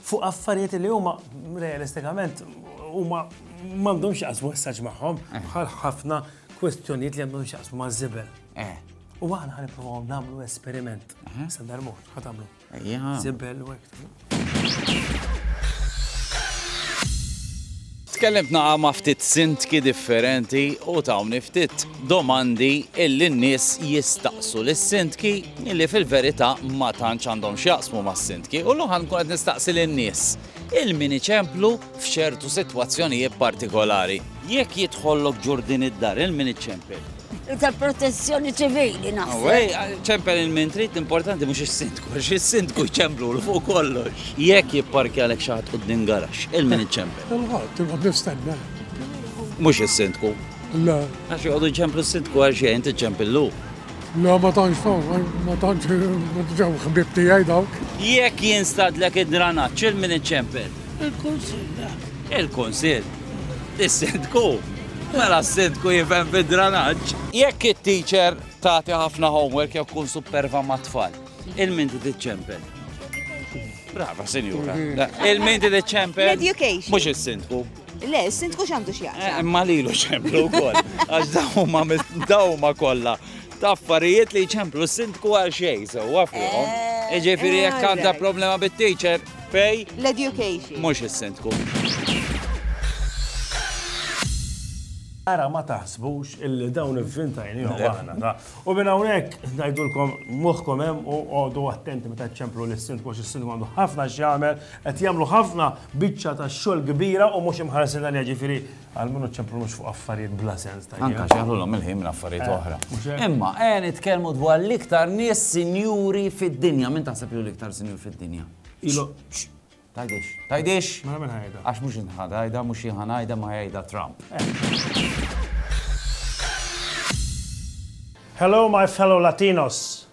fuq affarijiet li huma realistikament huma m'għandhomx jaqsmu essaġġ magħhom eh. bħal ħafna kwestjonijiet li għandhom xaqsmu ma' żibel. Eh. U għana għan niprofaw namlu esperiment. Eh. Sandar mor, għatamlu. Zibel u għek. Tkellimt naqra ma' ftit sindki differenti u tawni ftit domandi illi n-nies jistaqsu lis-sindki illi fil-verità ma tantx għandhom x'jaqsmu mas-sindki. U llum ħa nkun qed nistaqsi lin-nies il min iċemplu f'ċertu sitwazzjonijiet partikolari. Jekk jidħollok ġurdin id-dar il min iċċempel? U tal-protezzjoni ċivili naħseb. Ej, ċempel il-min trid, l-importanti mhux is-sindku, għax is-sindku jċemplulu fuq kollox. Jekk jipparkjalek xi ħadd quddiem garaxx, il-min iċċempel? Il-ħadd, inqgħod nistenna. Mhux is-sindku? Le. Għax joqogħdu jċemplu s-sindku għal xejn tiċċempillu. Le ma tantx ma tantx ġew ħbib tiegħi dawk. Jekk jinstadlek id-dranaġġ, il-min iċċempel? Il-kunsill. Il-kunsill. Is-Sindku? Mela s-Sindku jifhem fid-dranaġġ! Jekk it-teacher tagħti ħafna homework jew tkun superva mat-tfal, il-min tiċċempel? Brava, sinjura. Mhm. Il-min did iċ-ċempel? L-education. Mux il-sindku. Le, il-sindku xandu xjaqsa. Eh, ma li lu ċemplu kol. Għax dawma, dawma kolla. Taffarijiet li ċemplu s-sindku għal xej, so għafriħom. Eh, Iġifiri jek eh, għanda problema bit-teacher, Fej? L-education. Mhux is-sindku. Ara ma taħsbux illi dawn il-fintajn jew aħna. U minn hawnhekk ngħidulkom moħħkom hemm u għodu attenti meta ċemplu lis sindku għax is-sindku għandu ħafna x'jagħmel qed jagħmlu ħafna biċċa ta' xogħol kbira u mhux imħarsin għalija ġifieri Għalmin u ċemplunux fuq affarijiet bla sens ta' Anka xeħlulhom il-ħin minn affarijiet eh, oħra. Imma qed eh, nitkellmu dwar l-iktar nies sinjuri fid-dinja, minn taħseb li l-iktar sinjur fid-dinja. Ilu. Tajdix, tajdix. Ma minn ħajda. Għax mhux inħadajda, mhux inħanajda ma ħajda Trump. Eh. Hello my fellow Latinos.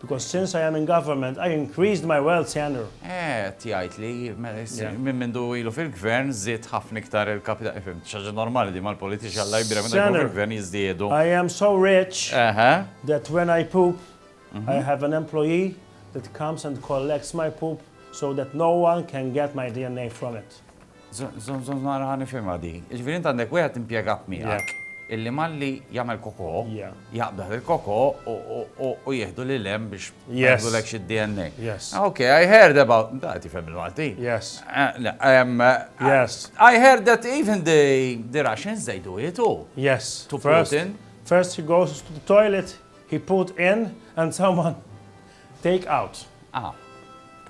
Because since I am in government, I increased my wealth, Senator. Qed jgħid li minn mindu ilu fil-Gvern żied ħafna iktar il-kapital. Fhimt, xi ħaġa normali din mal-politiċi Alla jbierek meta jkunu fil-Gvern jiżdiedu. I am so rich that when I poop, I have an employee that comes and collects my poop so that no one can get my DNA from it. Żomm, żomm nara ħa nifhimha di. Jiġifieri int għandek wieħed impjegat miegħek illi malli jagħmel kokò, jaqbdah il-kokò u jieħdu lil hemm biex jagħmlulek xi DNA. Ok, I heard about, da qed jifhem il-Malti. Yes. Yes. I heard that even the Russians they do it too. Yes. To Putin. First he goes to the toilet, he put in and someone Take out. Ah.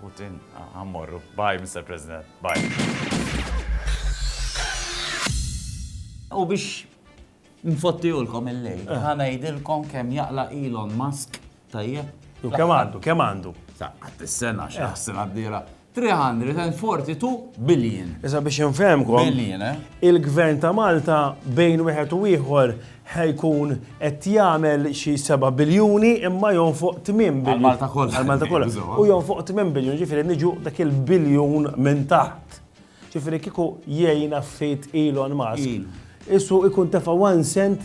Put in. Ah, ħammorru. Bye, Mr. President. Bye. U biex nfottijulkom il-lejl, eh. ħana jidilkom kem jaqla Elon Musk tajjeb. Kem għandu, kem għandu. Sa, għad s-sena, xaħsina eh. d-dira. 342 billion. Issa biex infehmkom, il-Gvern ta' Malta bejn wieħed u ieħor ħa jkun qed jagħmel xi seba' biljuni imma jonfoq tmien biljun. Għall-Malta kollha. Għall-Malta kollha. U jonfoq tmien biljun, ġifieri niġu dak il-biljun minn taħt. Ġifieri kieku jgħinna ftit Elon Musk, issu jkun tefa' one cent